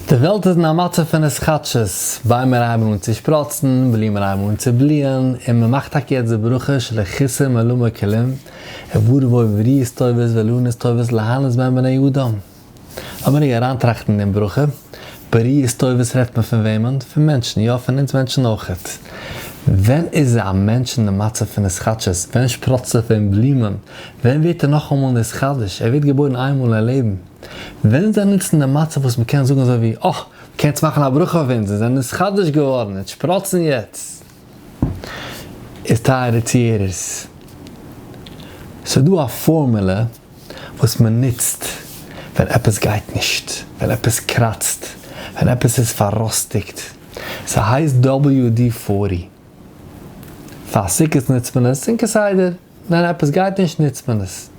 די וועלט איז אין א מצב פון התחדשות, ביימער הייבן אן צו שפראצן, בלומען הייבן אן צו בליען, און מען מאכט טאקע יעצט די ברכה שלא כיסה מלא מקללים, עבור בואו בריאות טובות ואילנות טובות להנות בהם בני אדם. לאמיר רגע אריינטראכטן אין דעם ברכה, בריאות טובות רעדט מען פון וועמען? פון מענטשן, יא פון אונז מענטשן אויכעט. ווען איז א מענטש אין די מצב פון התחדשות? ווען שפראצט ער פון בלומען? ווען ווערט ער נאכאמאל נתחדש? ער ווערט געבוירן איינמאל אין לעבן. וועלן זיי נוצן דעם מצב וואס מען קען זאגן אזוי ווי, אה! מען קען יעצט מאכן א ברכה אויף אונז, אונז זענען נתחדש געווארן, אונז שפראצן יעצט. איז טייערע צוהערערס, ס'איז דא א פארמולע וואס מען נוצט ווען עפעס גייט נישט, ווען עפעס קראצט, ווען עפעס איז פארראסטיגט, ס'הייסט WD-40. פאר סוכות נוצט מען עס, און כסדר ווען עפעס גייט נישט נוצט מען עס.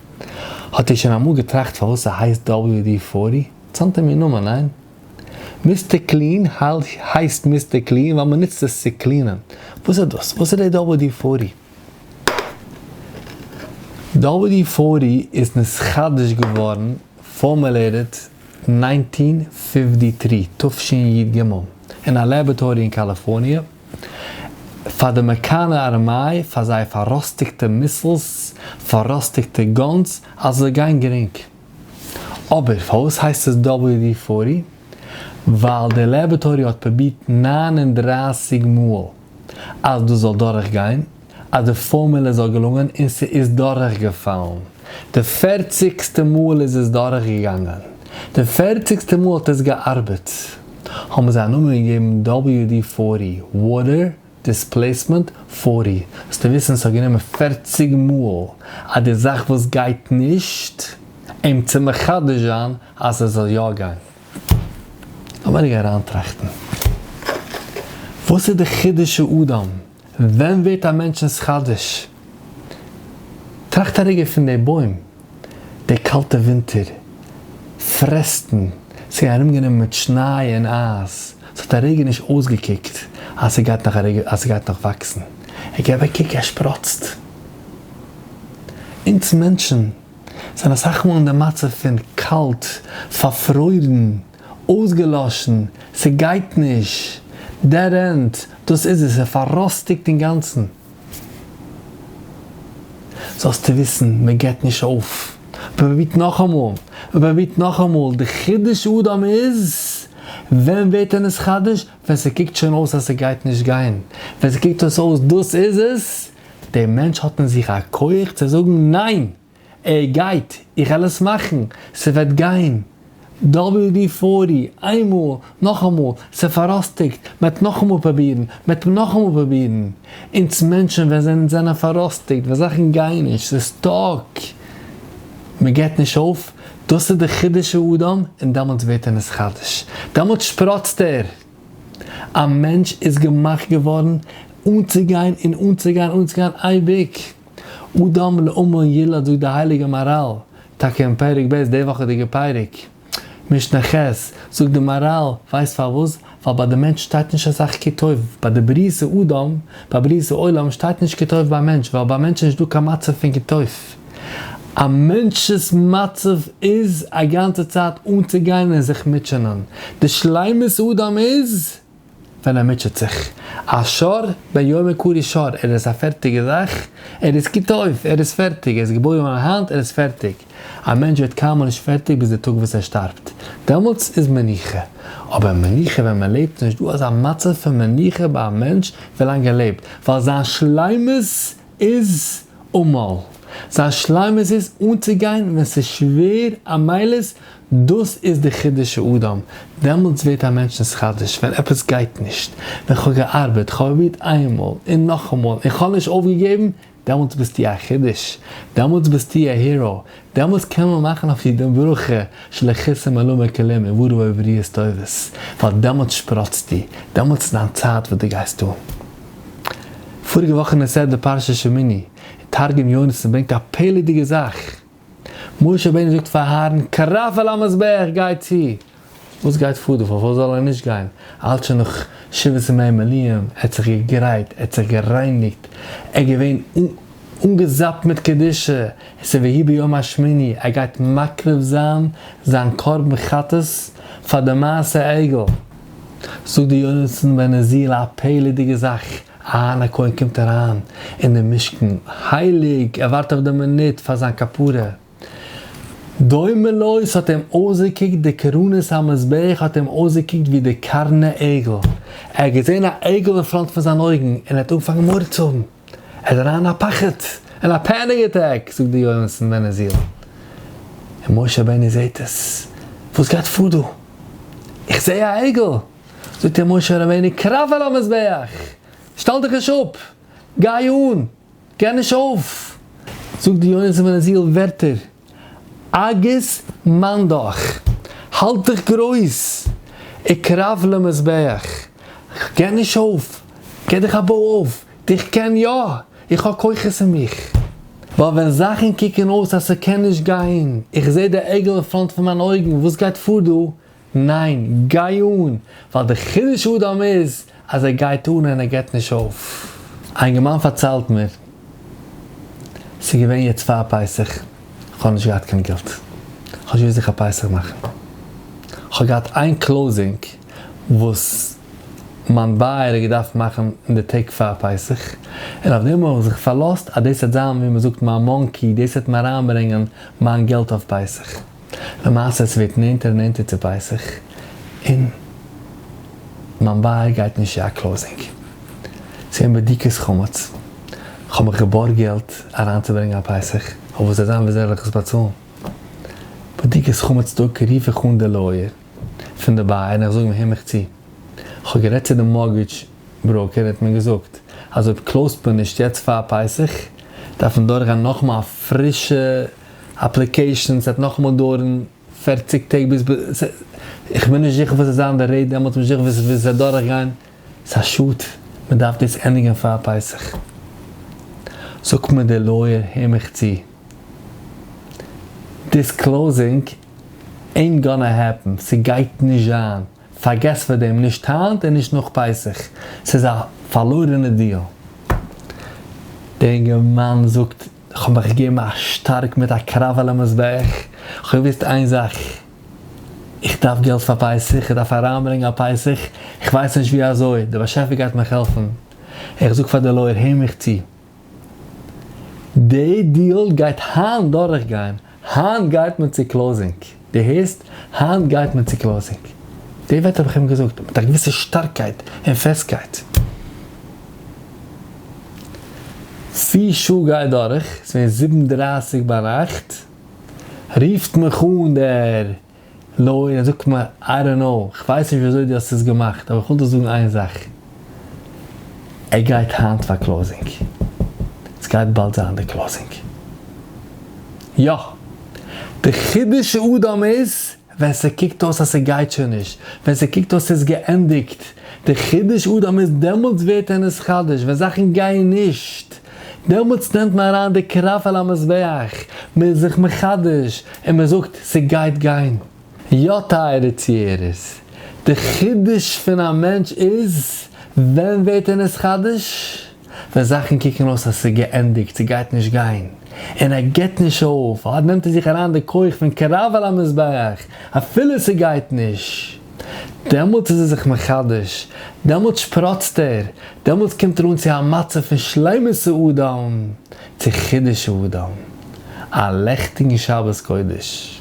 האט איר שוין אמאל געטראכט פארוואס ס'הייסט WD פארטי? ס'האט אים איר נאמען, ניין? מיסטער קלין הייסט מיסטער קלין ווייל מ'נוצט עס צו קלינען. וואס איז דאס? וואס איז דעי WD פארטי? WD פארטי איז נתחדש געווארן, פארמולעיטעד, נײַנצן פֿופֿציק, תשי ג, אין א לעבערטארי אין קאליפארניע. פאר די אמעריקאנער ארמיי, פאר זייער פאראסטיגטע מיסלס, פאראסטיגטע גאנס, אז עס זאל גיין גרינג. אבער פארוואס הייסט עס WD פארטי? ווייל די לעבערטארי האט פרובירט נײַן און דרײַסיק מאל אז דאס זאל דורכגיין. אז די פארמולע זאל געלונגען און ס'איז דורכגעפאלן. די פערציגסטע מאל איז עס דורכגעגאנגען. די פערציגסטע מאל האט עס געארבעט. האבן זיי א נאמען געגעבן WD פֿארטי, Water Displacement פֿארטי. זאלסטו וויסן ס'האט גענומען פערציג מאל אז די זאך וואס גייט נישט, אים צו מחדש זיין אז ס'זאל יא גיין. לאמיר רגע אריינטראכטן. וואס איז די חידוש האדם? ווען ווערט א מענטש'נס חדש? טראכט א רגע פון די בוים, די קאלטע ווינטער, פרעסטן, ס'איז געווען ארומגענומען מיט שניי און אייז, ס'האט א רגע נישט אויסגעקוקט אז ס'גייט נאך א רגע אז ס'גייט נאך וואקסן, און גיב א קוק ער שפראצט. אונז מענטשן זענען אסאך מאל אין די מצב פון קאלט, פארפרוירן, אויסגעלאשן, ס'גייט נישט, דעד ענד, דאס איז עס, ער פאראסטיקט אינגאנצן. זאלסטו וויסן, מ'געט נישט אויף, מ'פרובירט נאכאמאל, מ'פרובירט נאכאמאל, די חידוש אדם איז, ווען ווערט ער נתחדש? ווען ס'קוקט שוין אויס אז ס'גייט נישט גיין, ווען ס'קוקט אויס אז דאס איז עס, דער מענטש האט אין זיך א כח צו זאגן ניין! ער גייט, איך וועל עס מאכן, ס'וועט גיין, WD פארטי, איינמאל, נאכאמאל, ס'פאראסטיגט, מ'עט נאכאמאל פראבירן, מ'עט נאכאמאל פראבירן. אונז מענטשן ווען זענען זענען פאראסטיגט, ווען זאכן גייען נישט, ס'איז סטאק, מ'געט נישט אויף, דאס איז די חידוש האדם, און דעמאלטס ווערט ער נתחדש, דעמאלטס שפראצט ער. א מענטש איז געמאכט געווארן אנצוגיין און אנצוגיין און אנצוגיין אייביג. אדם לעמל ילד זאגט די הייליגע מהרל, טאקע אין פרק ב' די וואכעדיגע פרק, משנה ח', זאגט די מהרל, ווייסט פארוואס? ווייל ביי די מענטש שטייט נישט אסאך כי טוב, ביי די בריאת האדם, ביי בריאת העולם שטייט נישט כי טוב ביי מענטש, ווייל ביי מענטש איז נישטא קיין מצב פון כי טוב, א מענטש'ס מצב איז א גאנצע צייט אנצוגיין און זיך מוטשענען, די שלימות אדם איז. ווען ער מוטשעט זיך. א שר ביומי קרי שר, ער איז א פערטיגע זאך, ער איז כיתה אויף, ער איז פערטיג, ער איז געבוירן אן היינט, ער איז פערטיג. א מענטש ווערט קיינמאל נישט פערטיג ביז די טאג וואס ער שטארבט, דעמאלטס איז מנוחה. אבער מנוחה ווען מען לעבט נישט דא אזא מצב פון מנוחה ביי א מענטש ווילאנג ער לעבט, ווייל זיין שלימות איז אמאל. זיין שלימות איז אנצוגיין ווען ס'איז שווער א מעלות, דאס איז די חידוש האדם, דעמאלטס ווערט א מענטש נתחדש, ווען עפעס גייט נישט, ווען כ'האב געארבעט, כ'האב פרובירט איינמאל און נאכאמאל און כ'האב נישט אויפגעגעבן, דעמאלטס ביסטו א חידוש, דעמאלטס ביסטו א היראו, דעמאלטס קען מען מאכן אויף דיר דעם ברכה של הכיסא מלא מכלים און ווארום אויב ריאות טובות, ווייל דעמאלטס שפראצטו, דעמאלטס איז דיין צייט וואס דו גייסט אן. פאריגע וואך אין הסדר פרשת שמיני, און תרגום יונתן ברענגט א פלא'דיגע זאך, משה רבינו זאגט פאר אהרן קרב אל המזבח גיי צו, וואס גייט פאר דא? פארוואס זאל ער נישט גיין? אלץ שוין נאך שבעת ימי מילואים, ער האט זיך געגרייט, ער האט זיך גערייניגט, ער איז געווען אנגעזאפט מיט קדושה, עס איז ויהי ביום השמיני, ער גייט מקריב זיין זיין קרבן חטאת פאר די מעשה עגל, זאגט דער יונתן בן עזיל א פלא'דיגע זאך, אהרן הכהן קומט אריין אינעם משכן הייליג, ער ווארט אויף די מינוט פאר זיין כפרה, דומה לו ס'האט אים אויסגעקוקט די קרנות המזבח האט אים אויסגעקוקט ווי די קרני עגל, ער האט געזען א עגל אין פראנט פון זיין אויגן און ער האט אנגעפאנגען מורא צו האבן, ער איז אריין אין א פחד, אין א פעניג עטעק, זאגט דער יונתן בן עזיל, און משה רבינו זעט עס, וואס גייט פאר דא? איך זעה א עגל! זאגט אים משה רבינו קרב אל המזבח! שטעל דיך נישט אפ! גיי אן! געב נישט אויף! זאגט די יונה זלמן זי ע ווערטער, אגוז מיין דאך! האלט דיך גרויס! אקרב למזבח! כ'געב נישט אויף! געב דיך א בוי אויף! איך קען יא! איך האב כוחות אין מיך. ווייל ווען זאכן קוקן אויס אז ס'קען נישט גיין, איך זעה די עגל אין פראנט פון מיין אויגן וואס גייט פאר דא, ניין, גיי אן! ווייל די חידוש האדם איז אז ער גייט אן און ער געבט נישט אויף. א אינגערמאן פארציילט מיר, ס'איז געווען יעצט פאר פסח, איך האב נישט געהאט קיין געלט, כ'האב נישט געוואוסט ווי כ'האב פסח מאכן, כ'האב געהאט איין קלאוזינג וואס. מיין בייער האט געדארפט מאכן אין די טעג פאר פסח, און אויף דעם האב איך זיך פארלאזט אז דאס וועט זיין ווי מ'זאגט מיין מאנקי, דאס וועט מיר אריינברענגען מיין געלט אויף פסח. למעשה עס ווערט נענטער און נענטער צו פסח, און מיין בייער גייט נישט צו א קלאוזינג. ס'איז געווען בדיקת חמץ, כ'האב מיך געבארגט געלט אריינצוברענגען א פסח, אויב וואס וועט זיין וויאזוי וועל איך עס באצאלן? בדיקת חמץ טאג רוף איך אן די לויער. פון די בייער און איך זאג אים הער מיך צו, כ'האב גערעדט צו די מארגעדזש בראוקער און ער האט מיר געזאגט אז אויב קלאוזט מען נישט יעצט פאר פסח דארף מען דורכגיין נאכאמאל א פרישע אפליקעישאן, ס'וועט נאכאמאל דויערן פֿערציק טעג ביז, איך בין נישט זיכער וואס וועט זיין די רעיט דעמאלטס, נישט זיכער וואס ס'וועט דורכגיין. ס'א שאד, מ'דארף דאס ענדיגן פאר פסח. זאגט מיר דער לויער, הער מיך צו, דיסקלאוזינג עינט גאנא העפן, ס'גייט נישט זיין, פארגעס פאר דעם, נישט היינט און נישט נאך פסח, ס'איז א פארלוירענע דיעל. דער אינגערמאן זאגט, כ'האב מיך געגעבן א שטארק מיט א קרב על המזבח, כ'האב געוואוסט איין זאך, איך דארף געלט פאר פסח, איך דארף אריינברענגען א פסח, איך ווייס נישט ווי אזוי, דער באשעפער גייט מיך העלפן, איך זאג פאר די לויער הער מיך צו, די דיעל גייט היינט דורך גיין, היינט גייט מען צו קלאוזינג, די הערסט, היינט גייט מען צו קלאוזינג, די ווערטער האב איך אים געזאגט מיט א געוויסע שטארקייט און פעסטקייט, פיר שעה גייט דורך, ס'ווען זיבן דרייסיג ביינאכט. רופט מיך אן דער לויער און זאגט מיר, איי דאנט נאו, איך ווייס נישט וויאזוי דו האסט עס געמאכט, אבער איך וויל דיר זאגן איין זאך, ער גייט היינט פאר קלאוזינג. עס גייט באלד זיין די קלאוזינג. יא! די חידוש האדם איז, ווען ס'קוקט אויס אז ס'גייט שוין נישט, ווען ס'קוקט אויס ס'איז געענדיגט די חידוש אדם איז דעמאלטס ווערט ער נתחדש, ווען זאכן גייען נישט דעמאלטס נעמט מען אריין די קרח על המזבח, מען איז זיך מחדש און מען זאגט ס'גייט גיין. יא טייערע צוהערערס, די חידוש פון א מענטש איז ווען ווערט ער נתחדש? ווען זאכן קוקן אויס אז ס'איז געענדיגט, ס'גייט נישט גיין, און ער גיבט נישט אויף, אט נעמט ער זיך אריין די כח פון קרב אל המזבח, אפילו ס'גייט נישט, דעמאלטס איז ער זיך מחדש, דעמאלטס שפראצט ער, דעמאלטס קומט ער אן צו א מצב פון שלימות האדם צו חידוש האדם. א לעכטיגן שבת קודש.